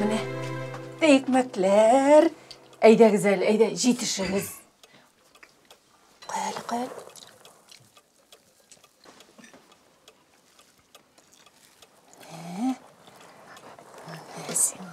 Менә икмәкләр. Әйдәгез әле, әйдә, җитешегез. Куй әле, куй әле. Менә. Менә сиңа.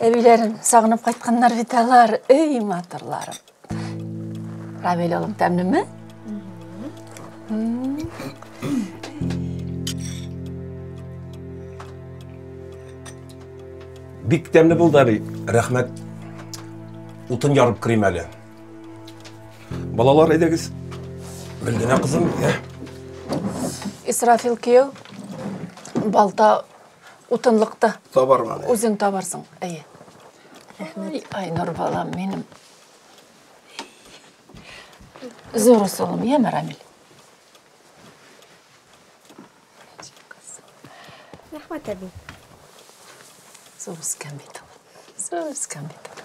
әбиләрен сагынып кайтканнар бит алар эй матурларым рамил улым тәмлеме бик тәмле булды әби рәхмәт утын ярып керим әле Балалар, әйдәгез. Бер генә кызым безгә. Исрафил кияү балта утынлыкта. Табарга. Үзең табарсың. Әйе. Рәхмәт. Ай, Нур балам минем. Зур усылым, я Марамил. Рәхмәт әби. Зур үскән бит. Зур үскән бит.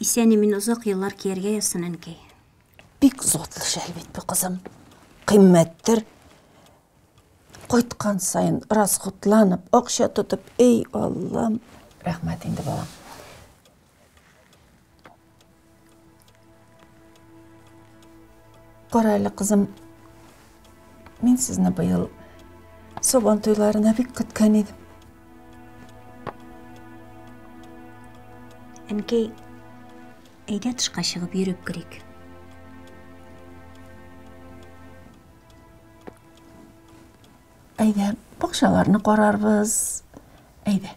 Исән-имин озак еллар кияргә язсын, әнкәй. Бик затлы шәл бит бу, кызым. Кыйммәттер. Кайткан саен расходланып, акча тотып, эй, Аллам. Рәхмәт инде, балам. Кара әле, кызым, мин сезне быел Сабан туйларына бик көткән идем. Әнкәй, әйдә тышка чыгып йөреп керик. Әйдә, бакчаларны карарбыз. Әйдә.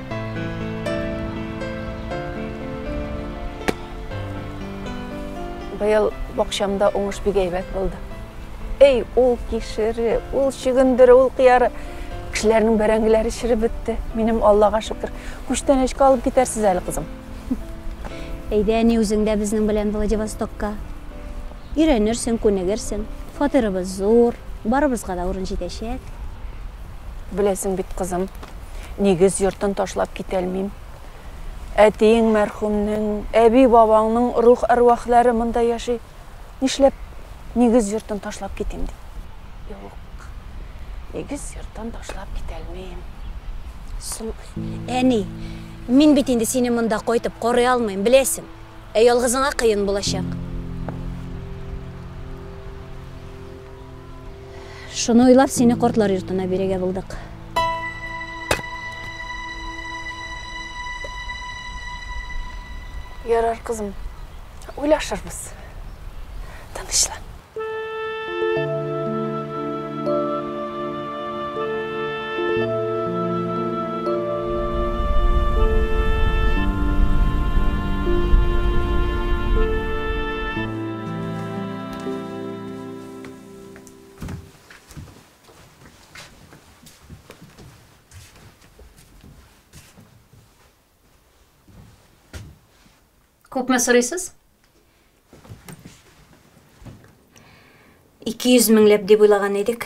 Быел бакчамда уңыш бик әйбәт булды. Эй, ул кишере, ул чөгендере, ул кыяры. Кешеләрнең бәрәңгеләре чиреп бетте. Минем Аллага шөкер. Күчтәнәчкә алып китәрсез әле, кызым. Әйдә, әни, үзең дә безнең белән Владивостокка. Өйрәнерсең, күнегерсең. Фатирыбыз зур, барыбызга да урын җитәчәк. Беләсең бит, кызым, Нигез йортын ташлап китәлмим. Әтиең мәрхүмнең, әби-бабаңның рух-әрвахлары монда яши. Нишләп нигез йортын ташлап китим ди? Юк. Нигез йортын ташлап китәлмим. Соң, әни, мин бит инде сине монда кайтып карый алмыйм, беләсең. Ә ялгызыңа кыен булачак. Шуны уйлап, сине кортлар йортына бирергә булдык. Ярар, кызым. Уйлашырбыз. Тынычлан. Күпме сорыйсыз? 200 меңләп дип уйлаган идек.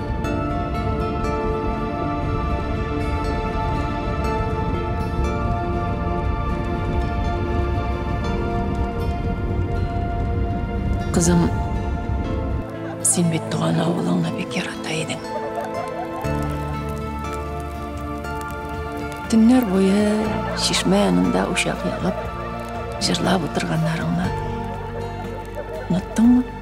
Кызым, син бит туган авылыңны бик ярата идең. Төннәр буе чишмә янында учак ягып, җырлап утырганнарыңны оныттыңмы?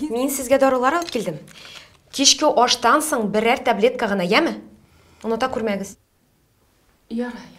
Мин сезгә дарулар алып килдем. Кичке аштан соң берәр таблетка гына, яме? Оныта күрмәгез. Яра, яра.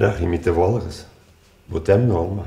Рәхим итеп алыгыз. Бу тәмле алма.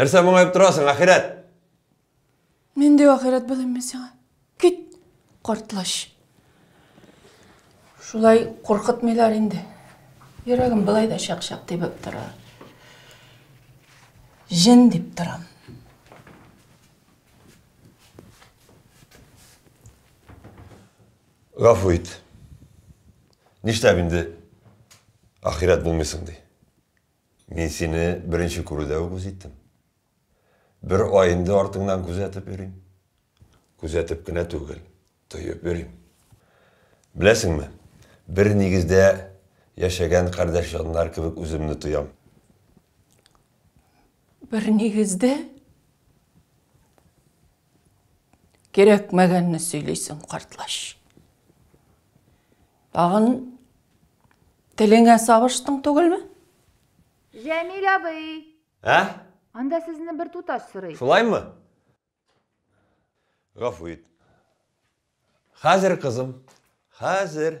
Нәрсә моңайып торасың, ахирәт? Нинди ахирәт белән мин сиңа? Кит, картлач. Шулай куркытмыйлар инде. Йөрәгем былай да чак-чак тибеп тора. Җен дип торам. Гафу ит. Нишләп инде ахирәт булмыйсың ди. Мин сине беренче күрүдә үк үз иттем. Бер ай инде артыңнан күзәтеп йөрим. Күзәтеп кенә түгел, тоеп йөрим. Беләсеңме, бер нигездә яшәгән кардәш җаннар кебек үземне тоям. Бер нигездә? Кирәкмәгәнне сөйлисең, картлач. Тагын телеңә сабыштың түгелме? Җәмил абый! Ә? Анда сезне бер туташ сорый. Шулаймы? Гафу ит. Хәзер, кызым, хәзер.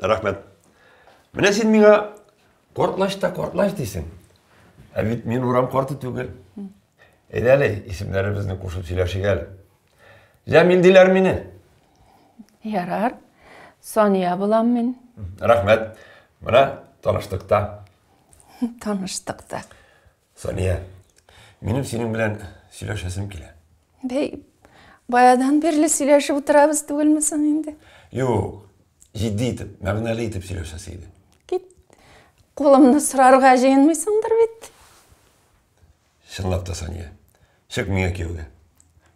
Рәхмәт. Менә син миңа кортлач та кортлач дисең. Ә бит мин урам корты түгел. Әйдә әле исемнәребезне кушып сөйләшик әле. Җәмил диләр мине. Ярар. Сания булам мин. Рәхмәт. Менә таныштык та. Таныштык та. Сания, минем синең белән сөйләшәсем килә. Бәй, баядан бирле сөйләшеп утырабыз түгелме соң инде? Юк, җитди итеп, мәгънәле итеп сөйләшәсе иде. Кит. Кулымны сорарга җыенмыйсыңдыр бит. Чынлап та, Сания, чык миңа кияүгә.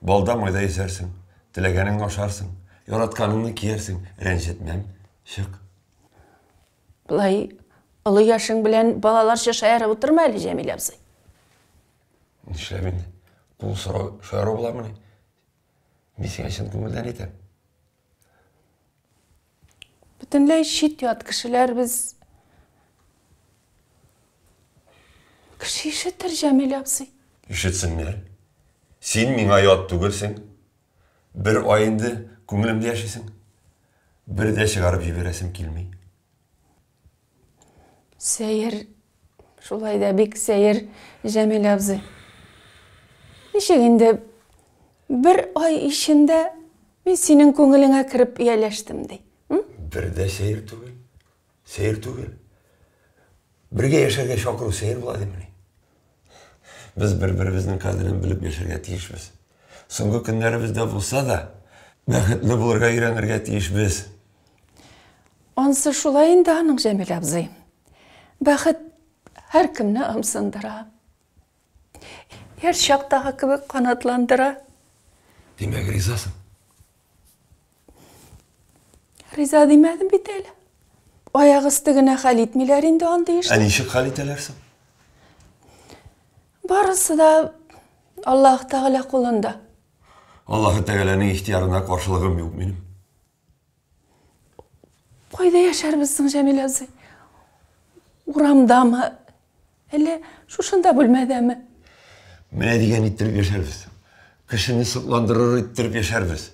Балда майда исәрсең, теләгәнеңне ашарсың, яратканыңны киярсең, рәнҗетмәм. Чык. Болай олы яшең белән балаларча шаярып утырма әле, Җәмилә абзый. Нишләп инде? Кул сорау шаяру буламыни? Мин сиңа чын күңелдән әйтәм. Бөтенләй чит ят кешеләр без. Кеше ишетер, Җәмилә абзый. Ишетсеннәр. Син миңа ят түгелсең. Бер ай инде күңелемдә яшисең. Бер дә чыгарып җибәрәсем килми. Сәер. Шулай да бик сәер, Җәмил абзый. Ничек инде бер ай ичендә мин синең күңелеңә кереп ияләштем ди? Бер дә сәер түгел. Сыер түгел. Бергә яшәргә чакыру сыер була димени? Без бер-беребезнең кадерен белеп яшәргә тиешбез. Соңгы көннәребездә булса да, бәхетле булырга өйрәнергә тиешбез. Ансы шулай инде аның, Җәмил абзый. Бәхет һәркемне ымсындыра. Яшь чактагы кебек канатландыра. Димәк, ризасың? Риза димәдем бит әле. Аяк өсте генә хәл итмиләр инде андый эшне. Ә ничек хәл итәләр соң? Барысы да Аллаһ Тәгалә кулында. Аллаһ Тәгаләнең ихтиярына каршылыгым юк минем. Кайда яшәрбез соң, Җәмил абзый? Урамдамы? Әллә шушында бүлмәдәме? Менә дигән иттереп яшәрбез. Кешене сокландырыр иттереп яшәрбез.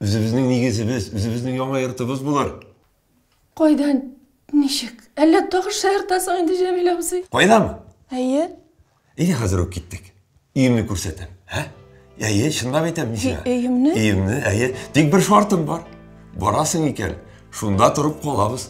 Үзебезнең нигезебез, үзебезнең яңа йортыбыз булыр. Кайдан, ничек? Әллә тагы шаяртасың инде, Җәмил абзый? Кайдамы? Әйе. Әйдә хәзер үк киттек. Өемне күрсәтәм. Ә? Әйе, чынлап әйтәм, Мисия. Өемне? Өемне, әйе. Тик бер шартым бар. Барасың икән, шунда торып калабыз.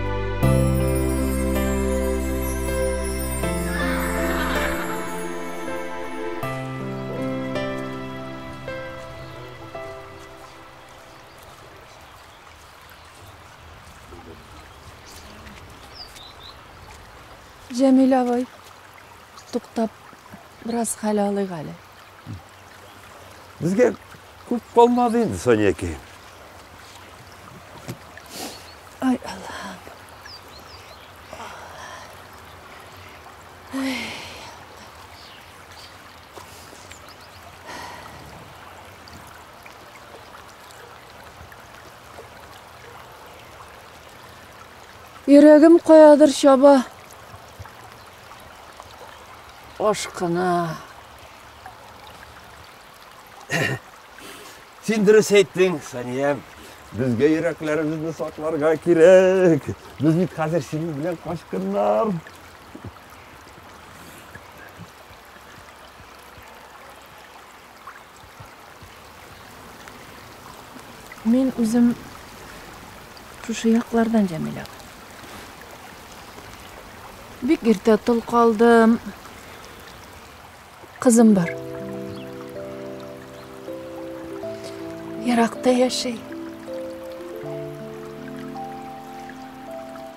Җәмил абый, туктап, бераз хәл алыйк әле. Безгә күп калмады инде, Соня әкәй. Ай, Аллам. Ай. Йөрәгем каядыр чаба. Ашкына. Син дөрес әйттең, Саниям. Безгә йөрәкләребезне сакларга кирәк. Без бит хәзер синең белән качкыннар. Мин үзем шушы яклардан Җәмилә. Бик иртә тол калдым. Кызым бар. Яракта яши.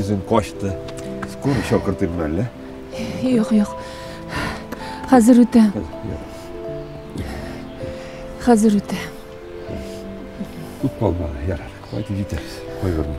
Үзең качты. Скоро чакыртырмын әллә? Юк, юк. Хәзер үтә. Хәзер үтә. Күп калмады, ярар. Кайтып җитәрбез. Кайгырма.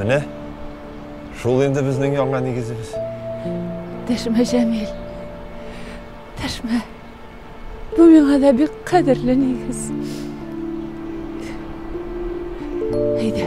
Менә шул инде безнең яңа нигезебез. Дәшмә, Җәмил. Дәшмә. Бу миңа да бик кадерле нигез. Әйдә.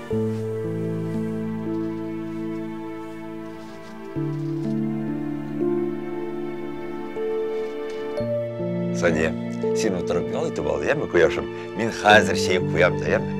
Сания, син отырып ял итеп ал, яме, кояшым. Мин хәзер чәй куям да, яме.